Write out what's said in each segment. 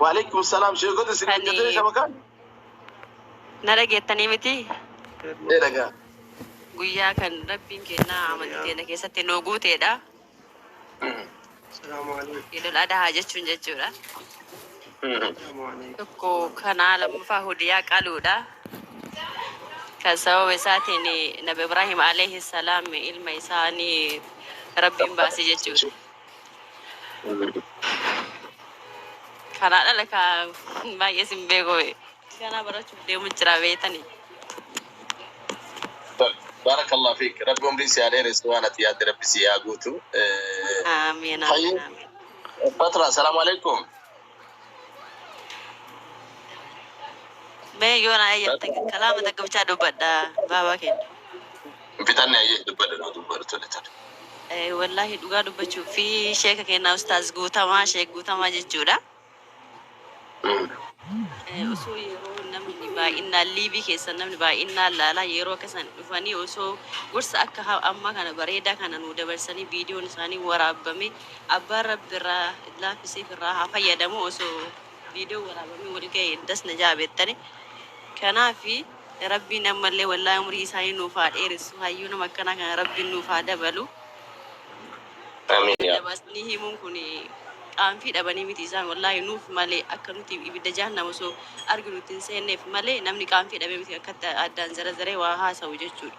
Waalaikum salaam sheekota isin Kani- hojjetee shabakaan. Na dhageettanii miti Ee dhagaa. guyyaa kan rabbiin keenya amantii keenya keessatti nuu guuteedha. Idul Adhaa jechuun jechuudha. Tokko kanaa lammaffaa hudiyaa qaluudha. Kan sababa isaatiin Nabi Ibraahim alayhi salaam ilma isaanii rabbiin baase jechuudha. Karaa dhala kaa baay'ee sin beeku ganaa barachuuf deemu jira beetani. Barakallah fiik. Rabbi umrii si haa dheeressu waan ati yaadde rabbi si haa guutu. Eh, Amiin Hayyi. amiin amiin. Fatra, salaamu alaikum. Mee yoo na eeyyamte kalaama takka bichaa dubbadha baabaa keenya. Hin fixanne ayyee dubbadha noo dubbadha tole tole. Eh, Wallaahi dhugaa dubbachuu fi sheeka kennaa ustaaz guutamaa sheek guutamaa jechuudha. Mm. Eh, Osoo yeroo namni baay'inaan liivii keessan namni baay'inaan laalaa yeroo akkasan dhufanii osoo gorsa akka ha- ammaa kana bareedaa kana nu dabarsanii viidiyoon isaanii waraabame Abbaan rabbi irraa laafi siif irraa haa fayyadamu osoo viidiyoon waraabamee wal ga'e das na ja'a beettani kanaafi rabbiin ammallee wallahi umrii isaanii nuuf haa dheeressu hayyuu nama akkanaa kana rabbiin nuuf haa dabalu Amiin yaa Rabbi. dabaasnii himuun kun qaanfii dhabanii miti isaan wallahi nuuf malee akka nuti ibidda jahannam osoo arginu ittiin seenneef malee namni qaanfii dhabee miti akkatti addaan zarazaree waa haasa'u jechuudha.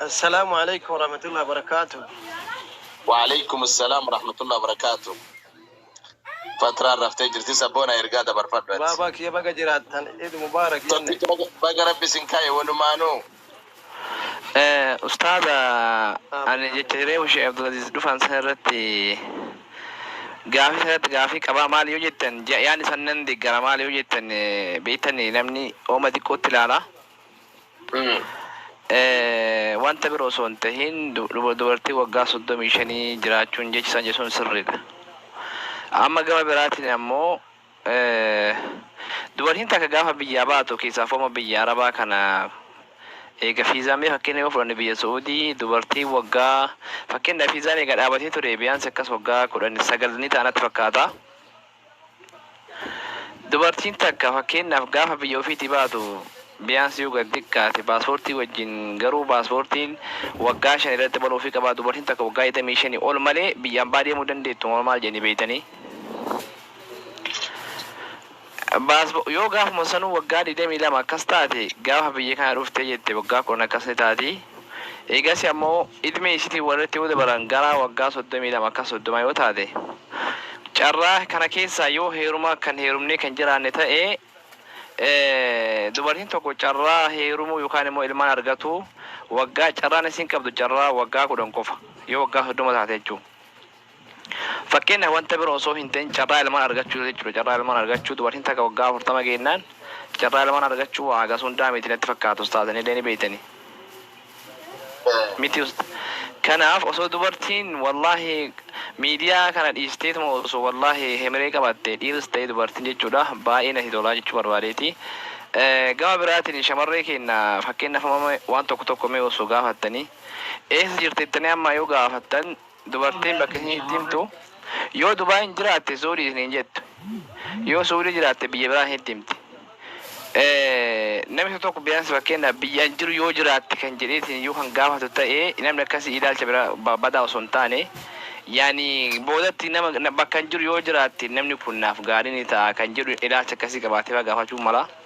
Assalaamu Aleykum Warahmatullahi Wabarakaatuh. Wa'aleykum Assalam Warahmatullahi Wabarakaatuh. Fatraan raftee jirti sabboona ergaa dabarfadhu ati. Baabaa kiyya baga jiraattan Eid Mubarak jenne. Tokkicha baga baga rabbi isin kaa'e walumaanuu. Eh, ustaaza ani jecha hireefu sheekh abdulaziz dhufan san irratti gaafii san irratti gaafii qabaa maali yoo jettan ja- yaani san nan deeggara maali yoo jettan eh, beektani namni ooma xiqqootti ilaala Wanta biroo osoo hin tahin dubartii waggaa 35 jiraachuun jechi isaan jedhu sun sirriidha. Amma gama biraatiin ammoo dubartiin takka gaafa biyyaa baatu keessaafooma biyya Arabaa kana eega fiizaan mee fakkeenya yoo fudhanne biyya Su'uudii dubartii waggaa fakkeenyaaf fiizaan eega dhaabatee ture biyaansi akkas waggaa 19 ni ta'a natti fakkaata. Dubartiin takka fakkeenyaaf gaafa biyya ofiitii baatu biyaansi yoo gad xiqqaate paaspoortii wajjin garuu paaspoortiin waggaa shan irratti banuufii qaba dubartiin takka waggaa 25 ol malee biyya ambaa deemuu dandeettu moo maal jedhanii beektanii? Paaspo- yoo gaafuma sanuu waggaa 22 akkas taate gaafa biyya kana dhuftee jette waggaa 10 akkas ni taati eegas ammoo idmee isitii walirratti yoo dabalan gara waggaa 32 akkas 30 yoo taate Carraa kana keessaa yoo heeruma kan heerumnee kan jiraanne ta'e dubartiin tokko carraa heerumuu yookaan immoo ilmaan argatuu waggaa carraan isiin qabdu carraa waggaa 10 qofa yoo waggaa 30 taate jechuudha. Fakkeenyaaf wanta biro osoo hin ta'in carraa ilmaan argachuu jechuudha carraa ilmaan argachuu dubartiin takka waggaa 40 geennaan carraa ilmaan argachuu waa hagas hundaa miti natti fakkaata ustaaza nillee ni beektanii. miti ust kanaaf osoo dubartiin wallahi media kana dhiisteetuma osoo wallahi hemiree qabaatte dhiirs ta'ee dubartiin jechuudha baay'ee nati tolaa jechuu barbaadeeti gama biraatiin shamarree keenna fakkeenyaaf amma waan tokko tokko mee osoo gaafattanii eessa jirta jettanii amma yoo gaafattan Dubartiin bakka inni itti himtu yoo Dubai hin jiraatte Suudii isiniin jettu. Yoo Suudii jiraatte biyya biraa isinitti himti. Namni tokko biyaansi fakkeenyaaf biyya an jiru yoo jiraatte kan jedhee isin iyyuu kan gaafatu ta'e namni akkasii ilaalcha bira badaa osoo hin taane yaani boodatti nama bakka an jiru yoo jiraatte namni kun naaf gaarii ni ta'a kan jedhu ilaalcha akkasii qabaatee faa gaafachuu mala.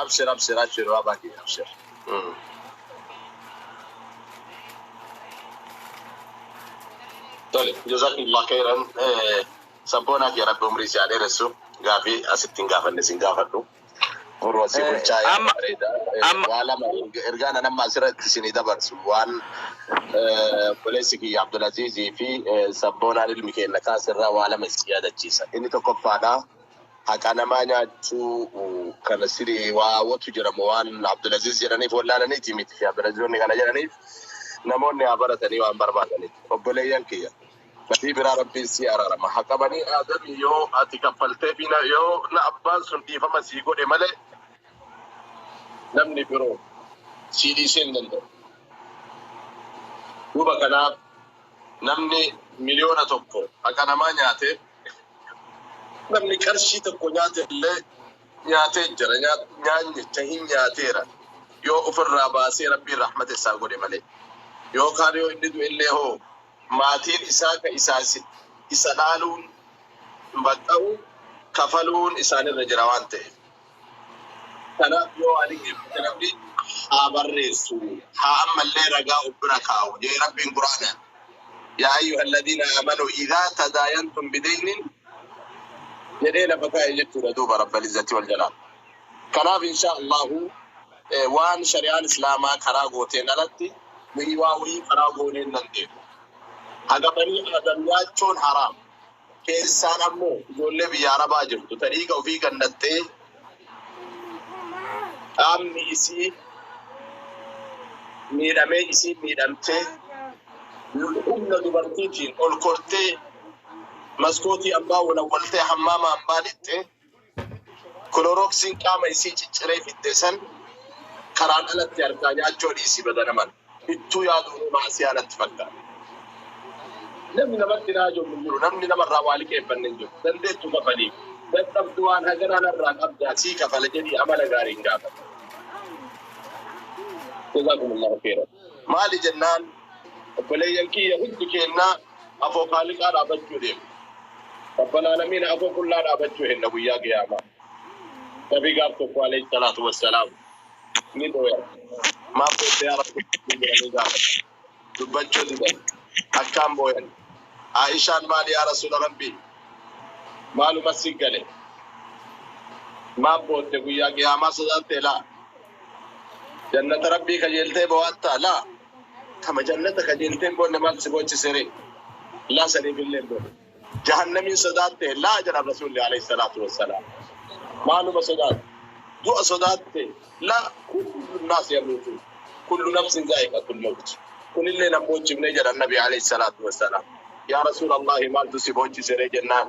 Abshir abshir abshir Raba kiyya abshir. Tole jazakumullah khairan eh, sabboonaa kiyya rabbi umrii si haa dheeressu gaafii asitti hin gaafanne sin gaafadhu muruu asii Eh, bulchaa yaada amma bareeda Eh, amma waa lama erga- ergaa nan amma asirratti isinii dabarsu waan eh, obboleessi kiyya Abdulaziizii fi eh, sabboonaan ilmi keenya kaasirraa waa lama isin yaadachiisa inni tokkoffaadha Haqaa namaa nyaachuu kana siri waa watu jira mo waan Abdulaziz jedhaniif wallaalaniiti miti Sheh Abdulaziz wanni kana jedhaniif namoonni haa baratanii waan barbaadaniif obboleeyyan kiyya badii biraa rabbiin sii araarama haqa bani aadami yo ati kaffalteefi na yo na abbaan sun dhiifama sii godhe male namni biro sii dhiisee hin danda'u duuba kanaaf namni miliyoona tokko haqa namaa nyaate Namni qarshii tokko nyaate illee nyaatee jira. Nyaanyicha hin nyaateera. Yoo ofirraa baasee Rabbiin rahmata isaa godhe malee. Yookaan yoo inni du'e illee hoo maatiin isaa ka isaa isa dhaaluun baqqa'u kafaluun isaanirra jira waan ta'eef. Kanaaf yoo ani geeffate rabbiin haa barreessu haa ammallee ragaa of bira kaa'u jee rabbiin quraanaan yaa ayyuha alladhiina aamanu idaa tadaayantum bideynin jedhee lafa kaa'e jechuudha duuba rabbal izzati wal jalaal kanaaf inshaa allahu waan shari'aan islaamaa karaa gooteen alatti nuyi waa wayii karaa goonee hin dandeenyu haga banii aadam nyaachuun haraam keessaan ammoo ijoollee biyya Arabaa jirtu ta dhiiga ofii gannattee qaamni isii miidhamee isii miidhamtee humna dubartiitiin ol kortee maskootii ambaa walawwaltee hammaama ambaa lixxee Kilorooksiin qaama isii cicciree fixxe san karaan alatti arkaa nyaachoo dhiisi badana male. Ittuu yaaduunuu ma'asiyaa natti fakkaata. Namni namatti raaja'u hin jiru, namni namarraa waa liqeeffanne hin jiru. Dandeettu kafaliif. Dadhabdu waan haganaa narraa qabdaa sii kafala jedhii amala gaariin gaafadhu. Jazaakumullaahu kheeyran. Maali jennaan. Obboleeyyan kiyya hundi keennaa afoo khaaliqaa dhaabachuu deemna. Rabbal aalamiina afoo qullaa dhaabachuu henna guyyaa qiyaamaa. Nabi gaaf tokko aleyh salaatu wassalaam ni booyan. Maaf booyte yaa rasuulallh jedhanii gaafatan. Dubbachuu didan. Akkaan booyan. Aa'ishaan maali yaa rasuula rabbii? Maaluma si gale? Maaf bootte guyyaa qiyaamaa sodaattee laa? Jannata rabbii kajeeltee boo'attaa laa? Tama jannata qajeelteen booda maaltu si boochise ree? Laa saniifilleen booda. Jahannamiin sodaatte? Laa jedhan Rasuulli aleyhi salaatu wassalaam. Maaluma sodaatte? Du'a sodaatte? Laa, kullu naas yamuutuun, kullu nafsin zaa'iqatul mawti. Kunillee nan boochifne jedhan Nabi aleyhi salaatu wassalaam. Yaa Rasuulallaahi maaltu si boochise ree jennaan.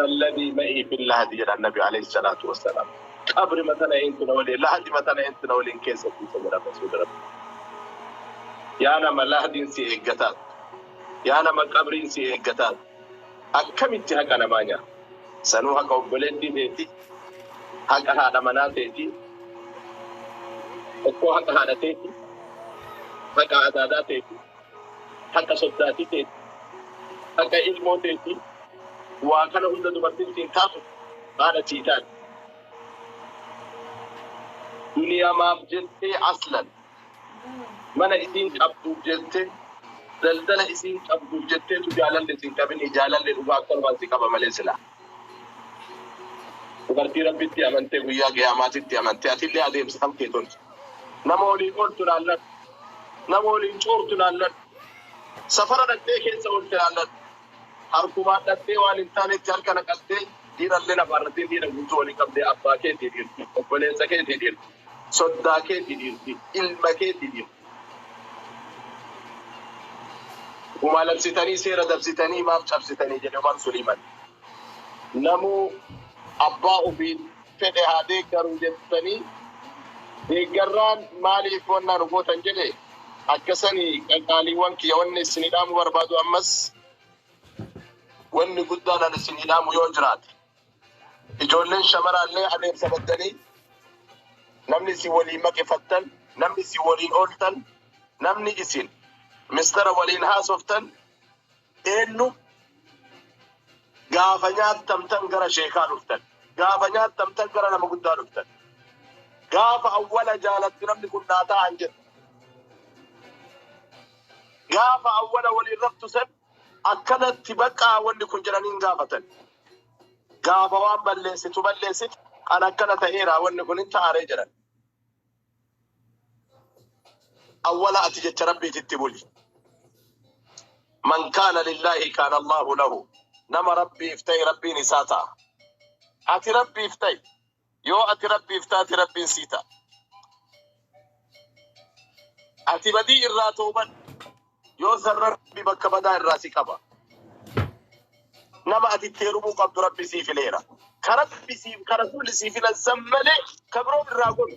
Man ladii ma'ii fil lahadi jedhan nabi aleyh salaatu wasalaam qabrima tana eentu na waliin lahadima tana eentu na waliin keessa ciisa jedhan rasuuli rabbii yaa nama lahadiin si eeggataatu yaa nama qabriin si eeggataatu akkamitti haqa namaa nyaata sanuu haqa obboleettii teeti haqa haadha manaa teeti tokkoo haqa haadha teeti haqa adaadaa teeti haqa soddaatii teeti, haqa ilmoo teeti, waa kana hunda dubartin siin kaaftu haadha sii taati. Duniyamaaf jettee aslan mana isiin qabduuf jette, daldala isiin qabduuf jetteetu jaalalli sin qabinii, jaalalli dhugaa akkanumaan si qaba malee silaa. Dubartii Rabbitti amantee Guyyaa Qiyaamaatitti amante atillee adeemsa kan kee tolchi. Nama waliin ooltu laalladhu. Nama waliin coortu laalladhu. Safara dhaqxee keessa oolte laalladhu. Harkumaan dhaqxee waan hin taanetti harka naqattee dhiirallee lafaarrattiin dhiira guutuu walii qabdee abbaa keetii dhiirti, obboleessa keetii dhiirti, soddaa keetii dhiirti, ilma keetii dhiirti. Dhuma labsitanii seera dabsitanii maaf cabsitanii jedhe Umar Suliiman. Namuu abbaa ofiin fedhe haa deeggaru jettanii deeggarraan maaliif wannaa nu gootan jedhe akkasanii qaqaaliiwwan kiyya wanni isin hidhaamu barbaadu ammas wanni guddaan an isin hidhaamu yoo jiraate. Ijoolleen shamaraallee adeemsa baddanii namni isin waliin maqefattan, namni isin waliin ooltan, namni isin mistara waliin haasoftan eennu gaafa nyaattamtan gara sheekaa dhuftan, gaafa nyaattamtan gara nama guddaa dhuftan, gaafa awwala jaalatti namni kun naa ta'an jettu, gaafa awwala waliin raftu san Akkanatti baqaa wanni kun jedhanii hin gaafatan. Gaafa waan balleessitu balleessite an akkana ta'eeraa wanni kun hin ta'aree jedhan. Awwala ati jecha Rabbiititti buli. Man kaana lillaahi kaana Allaahu lahu. Nama Rabbiif ta'e Rabbiin isaa ta'a. Ati Rabbiif ta'i. Yoo ati Rabbiif taate Rabbiin sii ta'a. Ati badii irraa toobadhu. Yoo san Rabbi bakka badaa irraa si qaba. Nama ati itti heerumuu qabdu Rabbi sii fileera. Ka Rabbi siif ka Rasuulli sii filan san malee ka biroo irraa godhu.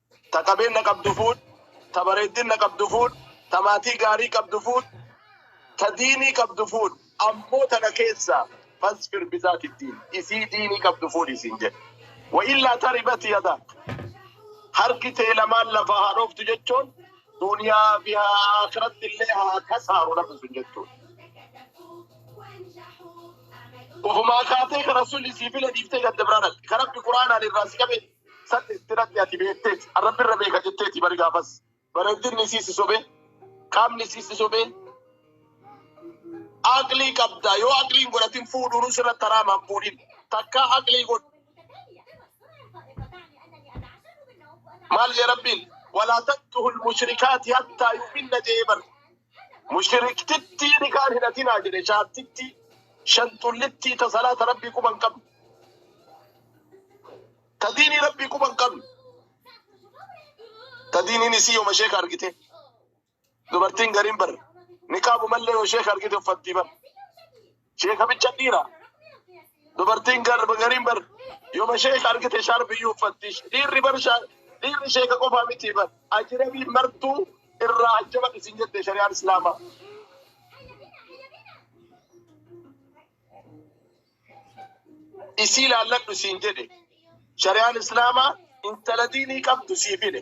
Ta qabeenna qabdu fuudh, ta bareeddinna qabdu fuudh, ta maatii gaarii qabdu fuudh, ta diinii qabdu fuudh, ammoo tana keessaa fasfir bizaati ddiin, isii diinii qabdu fuudhi siin jedhe. Wa'illaa taribat yadaak, harki tee lamaan lafaa haa dhooftu jechoon duuniyaa fi aakhirattillee haa kasaaru namni sun jechuudha. Ufumaa kaatee ka Rasuulli sii file dhiiftee gadda biraa dhaqxe, ka Rabbi Qur'aanaan irraa si qabe San itti dhaqxe ati beekteeti. An Rabbi irra beeka jetteeti bari gaafas. Bareeddinni isii si sobe, qaamni isii si sobe. Aqlii qabda. Yoo aqlii hin godhatin fuudhuunuu sirratti haraama hin fuudhin. Takkaa aqlii godhi. Maal jee Rabbiin? Walaa tankihu lmushrikaati hattaa yu'minna jee bar. Mushiriktittii nikaan hidhatinaa jedhe shaartittii shantullittii ta salaata rabbii quba hin qabne ta diinii rabbii quba hin qabne ta diiniin isii yooma sheeka argite dubartiin gariin bar niqaabu mallee yoo sheeka argite uffattii bar Sheekamicha dhiira. Dubartiin garba gariin bar yooma sheeka argite shaarbiyyuu uffatti. Dhiirri bar shaa- dhiirri sheeka qofaa miti bar. Ajirabii martuu irraa ajjaba isin jette shari'aan islaamaa. Isii laalladhu siin jedhe. Shari'aan islaamaa intala diinii qabdu siif hidhe.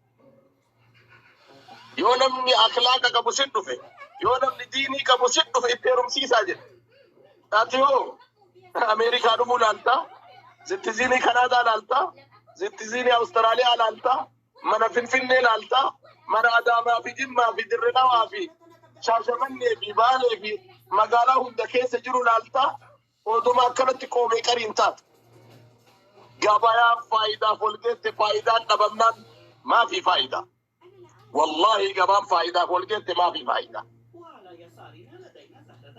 Yoo namni akhlaaqa qabu si dhufe, yoo namni diinii qabu si dhufe itti heerumsiisaa jedhe. Ati hoo Ameerikaa dhufuu laaltaa? Zittiziinii Kanaadaa laaltaa? Zittiziinii Awustiraaliyaa laaltaa? Mana Finfinnee laaltaa? Mana Adaamaa fi Jimmaa fi Dirre Dhawaa fi Shaashamannee fi Baalee fi magaalaa hunda keessa jiru laaltaa? Odoma akkanatti qoomee qariin taate. Gabayaan faayidaaf ol geette faayidaan dhabamnaan maafii faayidaa. Wallaahi gabaan faayidaaf ol geette maafii faayidaa.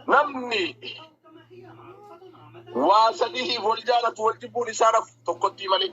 Namni waa sadihiif wal jaalatu wal jibbuun isaa nafu tokkottii malee.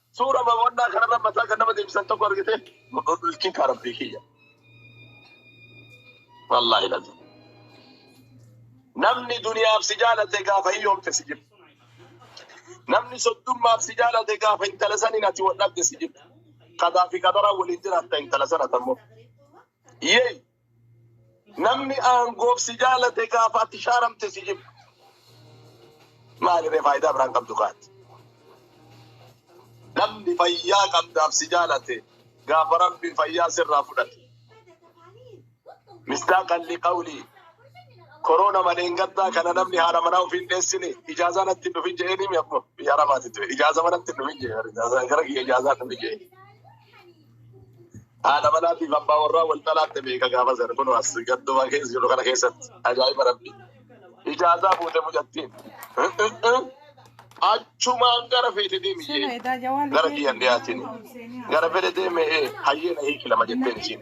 Suura boqonnaa kanarra mataa kan nama deebisan tokko argite ilkiin kaa rabbii kiyya. Wallaahi lazi. Namni duniyaaf si jaalate gaafa hiyyoomte si jirti. Namni soddummaaf si jaalate gaafa intala saniin ati wal dhabde si jirti. Qadaa fi qadaraa waliin jiraatta intala sana tammoo. Yee Namni aangoof si jaalate gaafa ati shaaramte si jibba. Maaliree faayidaa biraan qabdu kaati. Namni fayyaa qabdaaf si jaalate gaafa rabbiin fayyaa sirraa fudhate. Mistaaqan liqawlii koroona maleen gaddaa kana namni haala manaa ofiin dheessine ijaazaa natti hin dhufin jedhee nimi akkuma biyya arabaati ture ijaazaa manatti hin dhufin jedhe ijaazaa gara kiyya ijaazaa hin dhufin jedhe. Haadha manaatiif abbaa warraa wal talaatte meeqa gaafa sana kun as gadduma keessa jiru kana keessatti ajaa'iba rabbi. Ijaazaa fuute mucattiin. Achumaan gara feete deemi jee. Gara kiyyan dhiyaatiin. Gara fedhe deeme hayyee na hiiki lama jetteen isiin.